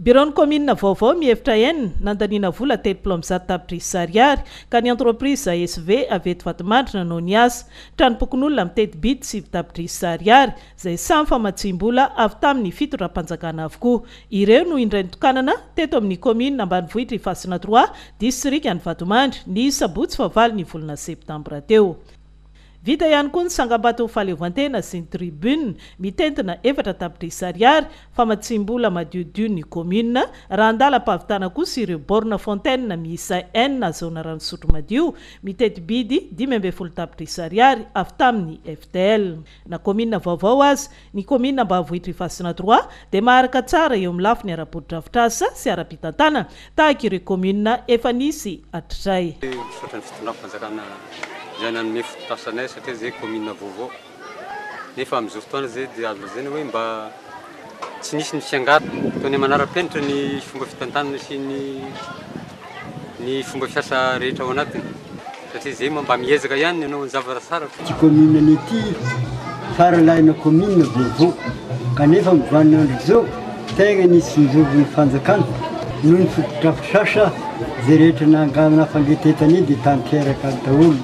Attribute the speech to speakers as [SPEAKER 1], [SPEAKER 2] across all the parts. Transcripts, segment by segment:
[SPEAKER 1] Biraon'ny kaominina vaovao mihevitra en nandaniana vola telopolo amby zato tapitrisa ariary ka ny entreprise ASV avy eto Vatomandrina no niasa. Tranompokonolona mitety bid sivy tapitrisa ariary izay samy famatsiam-bola avy tamin'ny fitondram-panjakana avokoa. Ireo no indray nitokanana teto amin'ny kaominina ambanivohitra Ifasina trois, disitrikan'i Vatomandry, ny sabotsy fahavalo ny volana septambra teo. Vita ihany koa ny tsangambato fahaleovantena sy ny tribune mitentina efatra tapitrisa ariary, famatsiam-bola madiodio ny commune, raha an-dalam-pahavitana kosa ireo bornes fontaines miisa enina azahoana rano fisotro madio, miteti-bidy dimy ambin'ny folo tapitrisa ariary avy tamin'ny FTL. Na commune vaovao aza, Ny kaominina Ambavohitra Ifasina trois dia maharaka tsara eo amin'ny lafiny ara-botodrafitrasa sy ara-pitantanana tahaka ireo kaominina efa nisy hatrizay. Misaotra ny fitondram-panjakana
[SPEAKER 2] izay nanome fototrasa anay satria izay kaominina vaovao nefa amin'izao fotoana izay dia azo lazaina hoe mba tsy nisy ny fiangarana. Ataonay manara-penitra ny fomba fitantanana sy ny. ny fomba fiasa rehetra ao anatiny satria izay moa mba miezaka ihany ny hanao ny zavatra tsara. Ity commune ny ity
[SPEAKER 3] fara lahina commune vaovao kanefa amin'ny vaninandro izao tegna nisy nizovon'ny fanjakana noho ny fotodrafitrasa izay rehetra nanga nafangetentany dia tanteraka daholo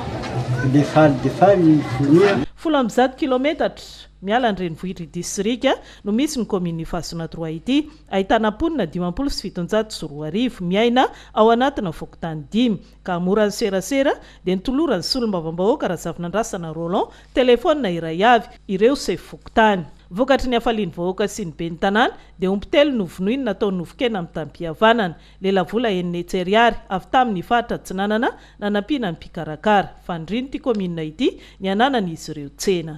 [SPEAKER 3] fa dia faly dia faly ny
[SPEAKER 1] fonia. Folo amby zato kilometatra miala ny renivohitr'ity sirika no misy ny commune Ifasonatroa ity. Ahitana mponina dimampolo sy fitonjato sy roa arivo miaina ao anatina fokontany dimy, ka hamoran'ny serasera dia nitoloran'ny solombavambahoaka Razafinandrasana Roland telefaonina iray avy ireo sefo fokontany. Vokatry ny hafalian'ny vahoaka sy ny ben'ny tanàna dia omby telo novonoiny natao nofon-kena mitam-pihavanana. Lelavola enina hetsy ariary avy tamin'ny faritra Atsinanana nanampiana ny mpikarakara. Fanirian'ity kaominina ity ny hananan'izy ireo tsena.